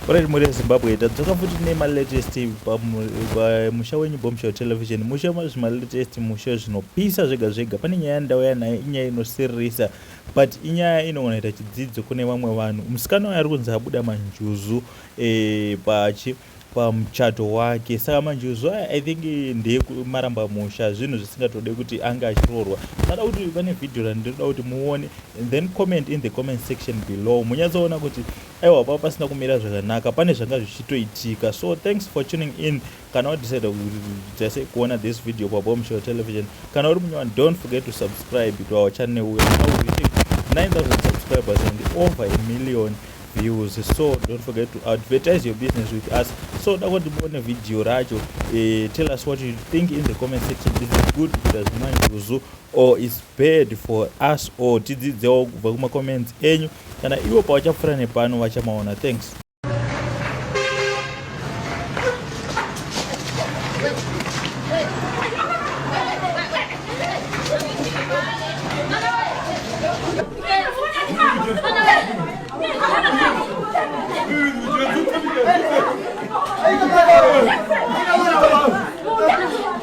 Alright mhuri yezimbabwe tadzoka futi tine malatest pamusha wenyu bomshow television musha mazvi malatest musha zvinopisa zvega zvega pane nyaya yandauya nayo inyaya inosiririsa but inyaya inogona ita chidzidzo kune vamwe vanhu musikana wayo ari kunzi abuda manjuzu e, pachi pamuchato wake saka manjuzu aya i think ndeekumaramba musha zvinhu zvisingatode kuti ange achiroorwa tada kuti pane vhidhiyo randinoda kuti muone and then comment in the comment section below munyatsoona kuti Aiwa panga pasina kumira zvakanaka pane zvanga zvichitoitika so thanks for tuning in kana wadecide kuita sei kuona this video paboom show television kana uri munyowani don't forget to subscribe to our channel we are now reaching 9000 subscribers and over a million views so don't forget to advertise your business with us so dako ndimone video racho uh, tell us what you think in the comment section is it good kuita zvimanje uzu or is bad for us all tidzidzewo kubva kumacomments enyu kana ivo pavachapfuura nepano vachamaona thanks